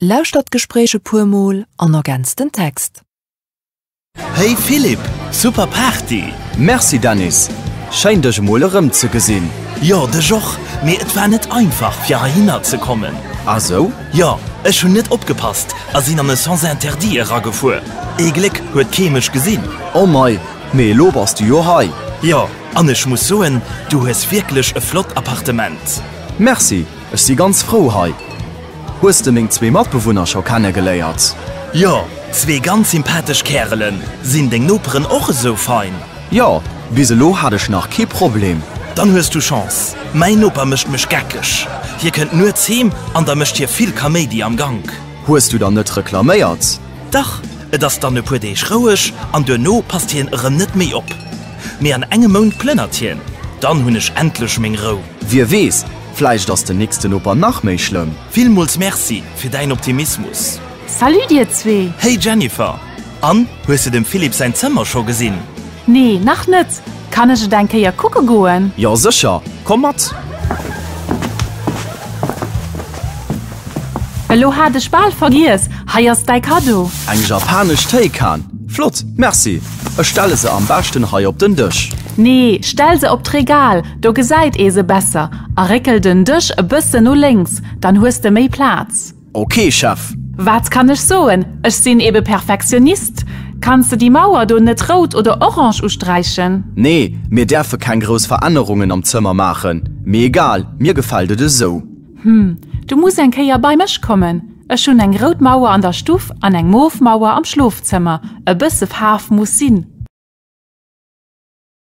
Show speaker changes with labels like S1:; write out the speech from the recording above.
S1: Lauschtert d'Gespréich e puer Mol an ergänzt den Text.
S2: Hey Philippe, super Party! Merci Dennis,
S3: schéin dech emol erëm ze gesinn! Jo, dech och,
S2: mee et war net einfach fir heihinner ze kommen. Ah sou?
S3: Jo, ech
S2: hunn net opgepasst a sinn an e sens interdit eragefuer. Ee Gléck huet kee mech gesinn. Oh mei,
S3: mee elo bass du jo hei. Jo, an ech
S2: muss soen, du hues wierklech e flott Appartement. Merci!
S3: Ech si ganz frou hei. Hues de meng zwee Matbewunner scho kenne geléiert? Jo,
S2: zwee ganz sympathesch Kärelen. Sinn deng Noperen och esou fein? Jo, bis
S3: elo hat ech nach kee Problem. Dann hues du
S2: Chance. Mäin Noper mécht mech geckeg. Hie kënnt nuets heem an da mécht hie vill Kaméidi am Gank. Hues du dann net
S3: reklaméiert? Dach, et
S2: ass dann e puer Deeg roueg an duerno passt hien erëm net méi op. Mee an engem Mount plënnert hien. Dann hunn ech endlech meng Rou. Wie weess,
S3: Vläicht ass den nächsten Noper nach méi schlëmm. Villmools Merci
S2: fir däin Optimismus! Salut dir
S4: zwee! Hey Jennifer!
S2: An, hues de dem Philippe säin Zëmmer scho gesinn? Nee, nach
S4: net. Kann ech et eng Kéier kucke goen? Jo sécher,
S3: komm mat!
S4: Elo hat ech bal vergiess, hei ass däi Kaddo! Eng japanesch
S3: Téikan! Flott, Merci! Ech stelle se am beschten hei op den Dësch. Nee, stell
S4: se op d'Regal, Do gesäit ee se besser. A réckel den Dësch e bëssen no lénks, dann hues de méi Plaz. Ok, Chef.
S3: Wat kann ech
S4: soen, ech sinn ebe Perfektionist. Kanns de déi Mauer do net rout oder orange usträichen? Nee, mir däerfe
S3: keng grouss Verännerungen am Zëmmer maachen. Mee egal, mir gefält et esou. Hm, du muss
S4: eng Kéier bei mech kommen. Ech hunn eng rout Mauer an der Stuff an eng mof Mauer am Schlofzëmmer. E bësse Faarf muss sinn.